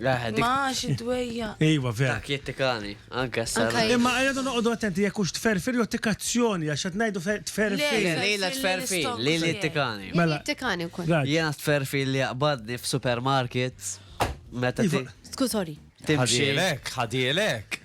Ma xi dwejja. Iva, vera. Dak jittikani, anke s-sara. Imma għajdu noqogħdu attenti jekk hux tferfir jew tikazzjoni għax qed ngħidu tferfir. Lejla tferfir, li li jittikani. Mela jittikani wkoll. Jiena tferfir li jaqbadni f'supermarket meta. Sku sorry. Ħadielek, ħadielek.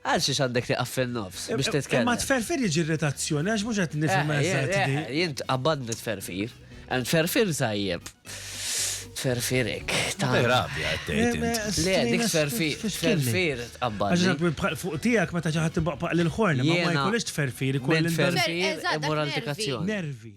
Għal xiex għandek tieqaf fin-nofs biex titkellem? Imma t-tferfir jiġi irritazzjoni għax mhux qed nifhem eżatt di. Jien tqabbadni tferfir. Hemm tferfir tajjeb. Tferfir hekk. Ta' rabja qed tgħid int. Le, dik tferfir, tferfir tqabbadni. Għax fuq tiegħek meta xi ħadd ibaqbaq lil ħorn, ma jkollix tferfir, ikollix tferfir imur għal dikazzjoni. Nervi.